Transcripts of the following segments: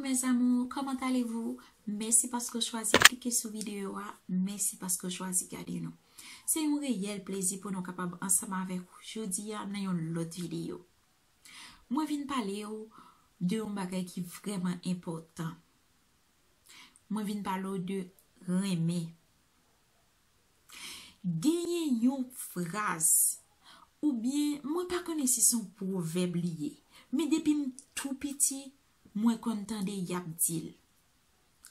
mes amours comment allez vous mèsi paske ou chwazi klike sou video a mèsi paske ou chwazi gade nou se yon reyèl plezi pou nou kapab ansanm avèk ou jodi a nan yon lòt video mwen vin pale ou de yon bagay ki vrèman enpòtan mwen vin pale ou de renmen genyen yon fraz oubyen mwen pa konnen si son pwovèb li ye men depi m tou piti Mwen konn tande y ap di l.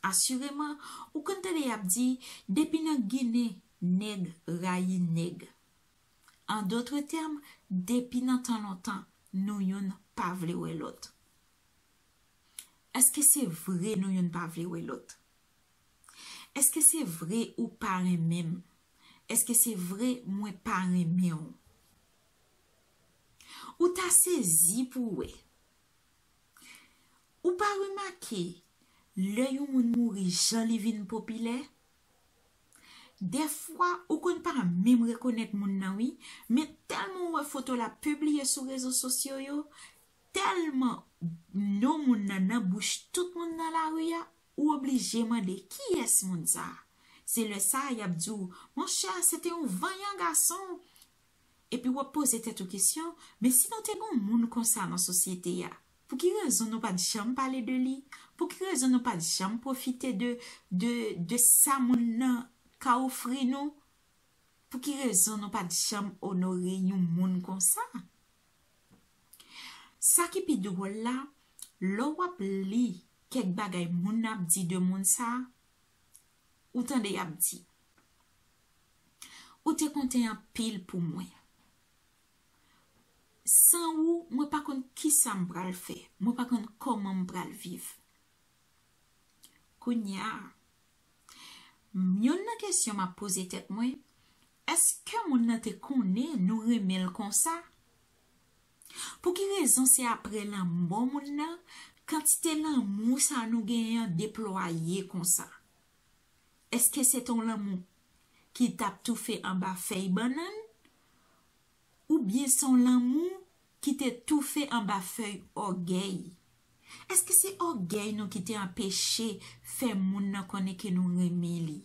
Asireman, ou konn tande y ap di, Depi nan Ginen, nèg rayi nèg. An dotre tèm, depi nan tan lontan, nou youn pa vle wè lòt. Èske se vre nou youn pa vle wè lòt? Èske se vre ou pa renmen m? Èske se vre mwen pa renmen w? Ou ta sezi pou w wè, Ou pa remake lè yon moun mouri jan li vin popilè? Dèfwa ou konn pa menm rekonèt moun nan wi, men tèlman ou wè foto l ap pibliye sou rezo sosyo yo, tèlman non moun nan nan bouch tout moun nan lari a, ou oblije mande kiyès moun sa? Se lè sa a y ap di w monchè se te yon vanyan gason Epi w ap poze tèt ou kesyon, men si nou te gen yon moun konsa nan sosyete a, pou ki rezon nou pa t janm pale de li? Pou ki rezon nou pa t janm pwofite de, de, de sa moun nan ka ofri nou? Pou ki rezon nou pa t janm onore yon moun konsa? Sa ki pi dwòl la, lò w ap li kèk bagay moun nan ap di de moun sa, Ou tande y ap di. Ou te konte anpil pou mwen. San ou, mwen pa konn ki sa m pral fè. Mwen pa konn kòman m pral viv. Kounye a, youn nan kesyon m ap poze tèt mwen, èske moun nan te konnen nou renmen l konsa? Pou ki rezon se apre lanmò moun nan kantite lanmou sa nou genyen an deplwaye konsa? Eske se te yon lanmou ki tap toufe anba fèy bannann oubyen se yon lanmou ki te toufe anba fèy ògèy? Èske se ògèy nou ki te anpeche fè moun nan konnen ke nou renmen li?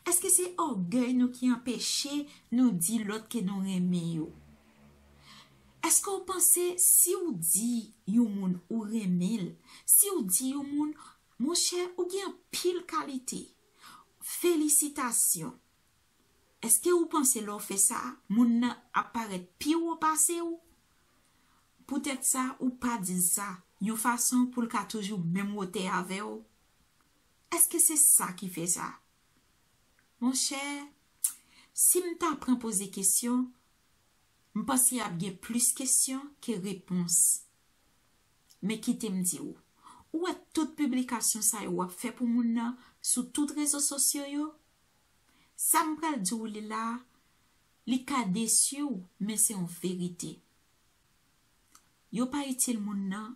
Èske se ògèy nou ki anpeche nou di lòt ke nou renmen yo? Èske ou panse si ou di yon moun ou renmen l, si ou di yon moun, monchè ou gen anpil kalite, felisitasyon, Eske ou panse lè w fè sa, moun nan ap parèt pi wo pase ou? Poutèt sa, ou pa di l sa, yon fason pou l ka toujou menm wotè avè w? Eske se sa ki fè sa? Monchè, si m ta pran poze kesyon, m panse ap gen plis kesyon ke repons. Men kite m di ou, ou wè tout piblikasyon sa yo w ap fè pou moun nan sou tout rezo sosyo yo, Sa m pral di w li la a, li ka desi w men se yon verite. Yo pa itil moun nan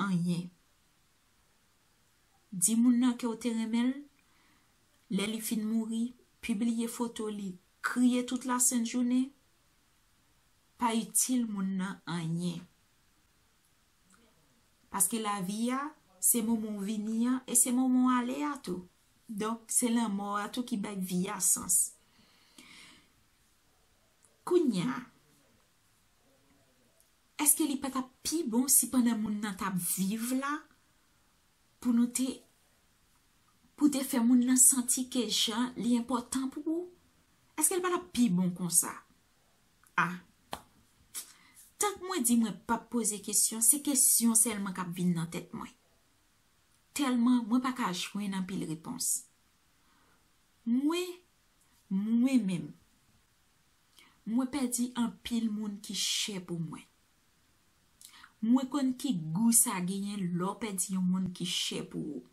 anyen. Di moun nan ke w te renmen l, lè li fin mouri, pibliye foto li, kriye tout lasent jounen, pa itil moun nan anyen. Paske lavi a, se moman w vini an e se moman w ale a tou. Donk, se lanmò a tou ki bay vi a sans. Kounya, èske li pa t ap pi bon si pandan moun nan t ap viv la, pou nou te, pou w te fè moun nan santi ke jan li enpòtan pou ou? Èske li pa t ap pi bon konsa? Ah. Tank mwen di mwen pap poze kesyon, se kesyon sèlman kap vin nan tèt mwen. Tèlman mwen pa ka jwenn anpil repons. Mwen, mwen menm, mwen pèdi anpil moun ki chè pou mwen. Mwen konn ki gou sa genyen lè w pèdi yon moun ki chè pou ou.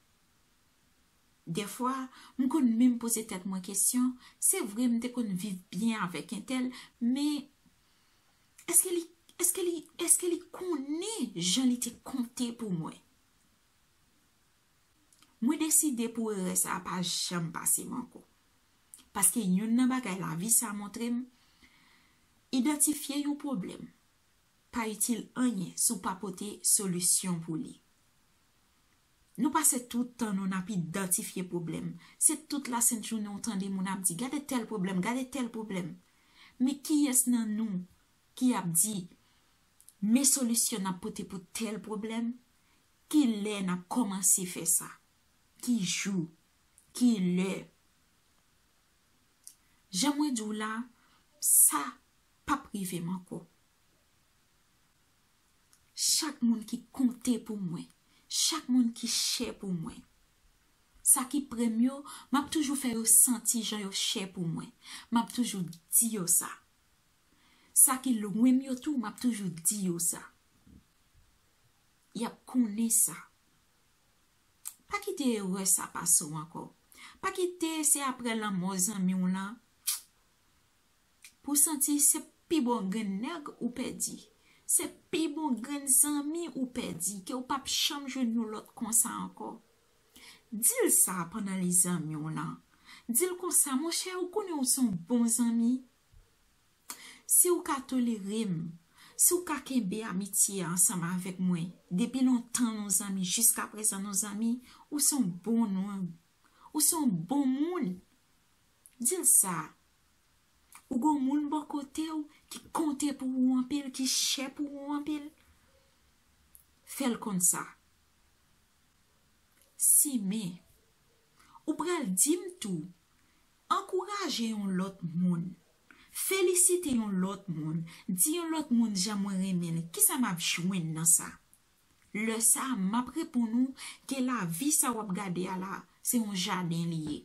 Dèfwa, m konn menm poze tèt mwen kesyon, se vre m te konn viv byen avèk entèl, men, èske li, èske li, èske li konnen jan li te konte pou mwen? Mwen deside pou erè sa a pa janm pase m ankò. Paske youn nan bagay lavi sa a montre m, idantifye yon pwoblèm pa itil anyen si w pa pote solisyon pou li. Nou pase tout tan nou nap idantifye pwoblèm. Se tout lasent jounen ou tande moun ap di gade tèl pwoblèm, gade tèl pwoblèm. Men kiyès nan nou ki ap di men solisyon nap pote pou tèl pwoblèm, ki lè nap kòmanse fè sa, ki jou, ki lè. Jan mwen di w la, sa pap rive m ankò. Chak moun ki konte pou mwen. Chak moun ki chè pou mwen. Sa ki pre m yo, m ap toujou fè yo santi jan yo chè pou mwen. M ap toujou di yo sa. Sa ki lwen m yo tou, m ap toujou di yo sa. Y ap konnen sa. Pa kite erè sa pase w ankò. Pa kite se aprè lanmò zanmi w lan. Pou santi se pi bon grenn nèg ou pèdi. Se pi bon grenn zanmi ou pèdi ke ou pap janm jwenn yon lòt konsa ankò. Di l sa pandan li zanmi w lan. Di l konsa, monchè ou konnen ou son bon zanmi. Si ou ka tolere m, si ou ka kenbe amitye ansanm avèk mwen, depi lontan nou zanmi jiskaprezan nou zanmi, ou son bon nonm. Ou son bon moun. Dil sa Ou gon moun bò kotew ki konte pou ou anpil ki chè pou ou anpil Fèl konn sa Sime Ou pral dim tou Ankouraje yon lòt moun Felisite yon lòt moun Di yon lòt moun jan mwen renmenl kisa map jwenn nan sa Lè sa map reponn ou ke lavi sa wap gade a la se yon jaden li ye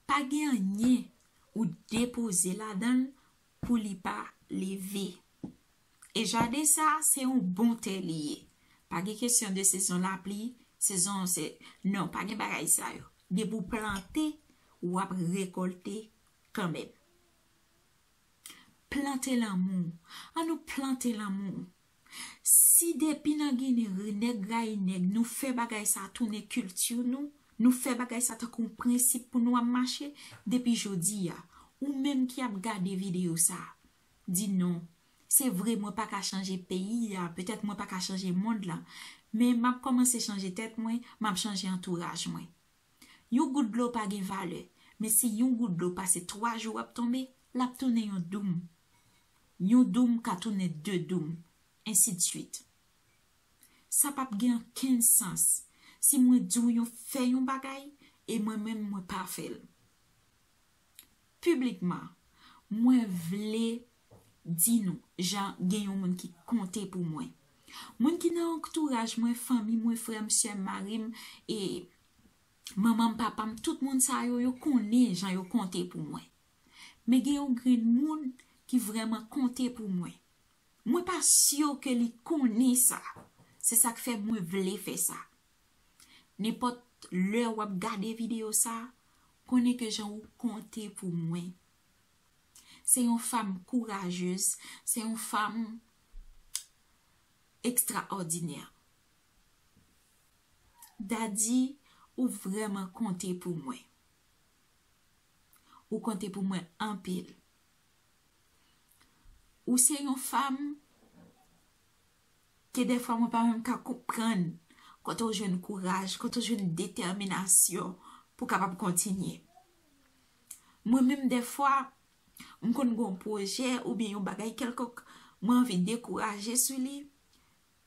Pa gen anyen ou depoze ladan l pou li pa leve. E jaden sa a se yon bon tè li ye. Pa gen kesyon de sezon lapli, sezon se, non, pa gen bagay sa yo. Depi ou plante, w ap rekòlte kanmenm. Plante lanmou. An nou plante lanmou. Si depi nan ginen renèg rayi nèg nou fè bagay sa tounen kilti nou, nou fè bagay sa tankou yon prensip pou nou ap mache, depi jodi a, ou menm ki ap gade videyo sa, di non, se vre mwen pa ka chanje peyi a, petèt mwen pa ka chanje mond lan, men m ap kòmanse chanje tèt mwen, m ap chanje antouraj mwen. Yon gout dlo pa gen valè, men si yon gout dlo pase 3 jou ap tonbe, l ap tounen yon doum. Yon doum ka tounen de doum, ensidsuit. Sa pap gen ankenn sans si mwen di w yon fè yon bagay e mwen menm mwen pa fè l. Piblikman, mwen vle di nou jan gen yon moun ki konte pou mwen. Moun ki nan antouraj mwen, fanmi mwen, frè m, sè m, mari m, e manman m, papa m, tout moun sa yo, yo konnen jan yo konte pou mwen. Men gen yon grenn moun ki vrèman konte pou mwen. Mwen pa syo ke li konnen sa. Se sak fè mwen vle fè sa. Nenpòt lè wap gade video sa, konnen ke jan ou konte pou mwen. Se yon fam kourajez, se yon fam ekstraòdinè. Dady, ou vrèman konte pou mwen. Ou konte pou mwen anpil. Ou se yon fam ke defwa mwen pa menm ka konprann kote ou jwenn kouraj, kote ou jwenn detèminasyon pou kapab kontinye. Mwen menm defwa, m konn gon pwojè ou byen yon bagay kelkonk mwen anvi dekouraje sou li,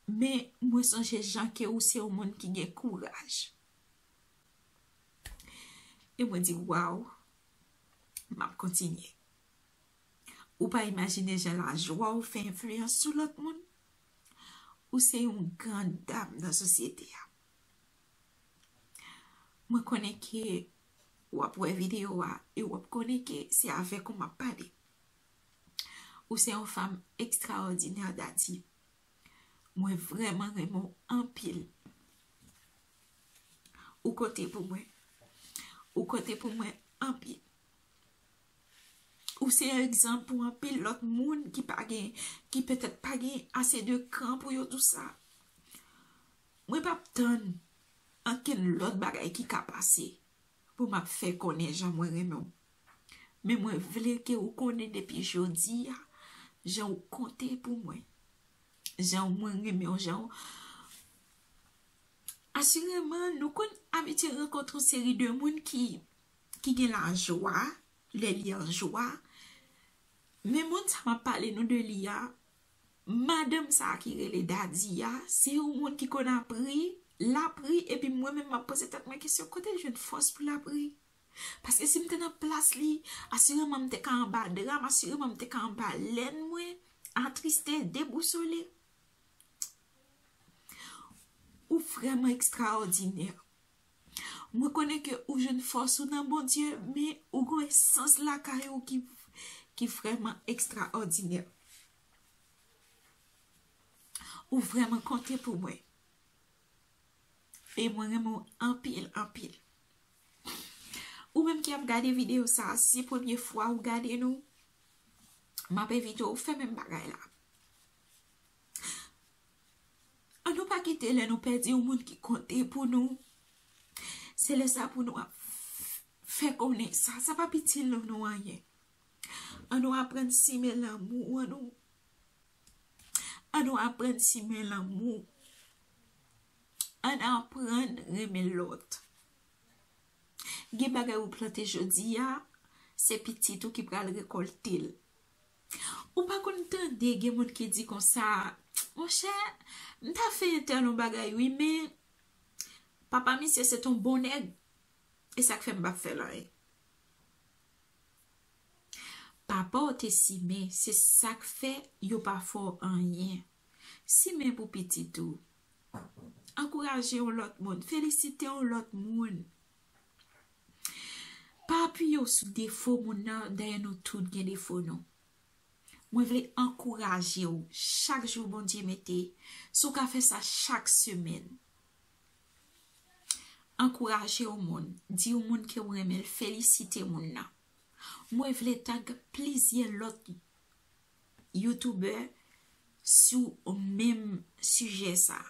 men mwen sonje jan ke ou se yon moun ki gen kouraj. E mwen di waw, m ap kontinye. Ou pa imajine jan lajwa ou fè enfliyans sou lòt moun. Ou se yon gran dam nan sosyete a. Mwen konnen ke w ap wè videyo a e w ap konnen ke se avèk ou m ap pale. Ou se yon fanm ekstraòdinè Dati. Mwen vreman renmen w anpil. Ou konte pou mwen. Ou konte pou mwen anpil. Ou se egzanp pou anpil lot moun ki pa gen, ki petet pa gen ase de kran pou yo dou sa. Mwen pap tann anken lot bagay ki ka pase pou map fe konnen jan mwen renmen w. Men mwen vle ke ou konnen depi jodi a, jan ou konte pou mwen. Jan mwen renmen w, jan ou... Asireman, nou konn abitye rankontre yon seri de moun ki gen la jwa, lè li an jwa. Men moun sa map pale nou de li a, madanm sa ki rele Dadi a, se yon moun ki konn ap ri, lap ri, epi mwen menm map poze tèt mwen kesyon kote l jwenn fòs pou lap ri? Paske si m te nan plas li, asireman m te ka anba dra m, asireman m te ka anba lèn mwen, atriste, debousole. Ou vrèman ekstraòdinè. Mwen konnen ke ou jwenn fòs ou nan Bondye, men ou gen yon esans lakay ou ki vrèman ekstraòdinè. Ou vrèman konte pou mwen. Fey mwen renmen w anpil anpil. Ou menm ki ap gade video sa si premye fwa ou gade nou map envite w fè menm bagay la. An nou pa kite lè nou pèdi yon moun ki konte pou nou se lè sa pou nou ap fè konnen sa sa pap itil nou anyen. An nou aprann simen lanmou an nou. An nou aprann simen lanmou. Ann aprann renmen lòt. Gen bagay ou plante jodi a, se pitit ou ki pral rekòlte l. Ou pa konn tande gen moun ki di konsa, monchè, m ta fè entèl yon bagay wi men, papa misye se t yon bon nèg, e sa k fè m pa fè l anyen. Papa w te simen, se sa k fè yo pa fè w anyen. Simen pou pitit ou. Ankouraje yon lòt moun. Felisite yon lòt moun. Pa apiye w sou defo moun nan, dayè nou tout gen defo nou. Mwen vle ankouraje w chak jou Bondye mete, si w ka fè sa chak semèn. Ankouraje yon moun, di yon moun ke ou renmen l, felisite moun nan. Mwen vle tag plizyè lòt youtubè sou menm sijè sa.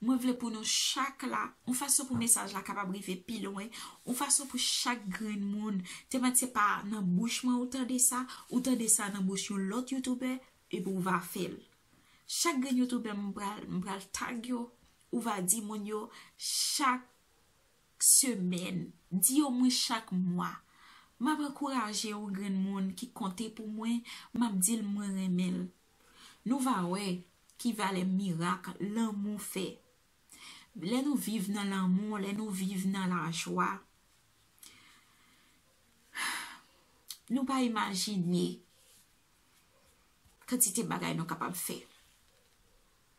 Mwen vle pou nou chak la, yon fason pou mesaj la kapab rive pi lwen, yon fason pou chak grenn moun, tèman se pa nan bouch mwen ou tande sa, ou tande sa nan bouch yon lòt youtubè, epi ou va fè l. Chak grenn youtubè m pral tag yo. Ou va di moun yo chak semèn, di yo mwen chak mwa. M ap ankouraje yon grenn moun ki konte pou mwen, m ap di l mwen renmen l. Nou va wè ki valè mirak lanmou fè. Lè nou viv nan lanmou, lè nou viv nan lajwa, nou pa imajine kantite bagay nou kapab fè.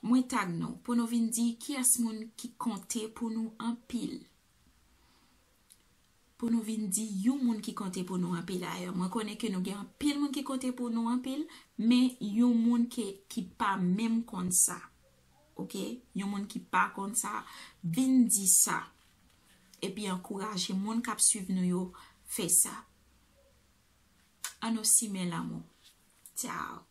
Mwen tag nou pou nou vin di kiyès moun ki konte pou nou anpil. Pou nou vin di yon moun ki konte pou nou anpil a yo. Mwen konnen ke nou gen anpil moun ki konte pou nou anpil, men yon moun ki pa menm konn sa. Ok, yon moun ki pa konn sa, vin di sa. E pi ankouraje moun kap suiv nou yo fè sa. An nou simen lanmou. Tchao.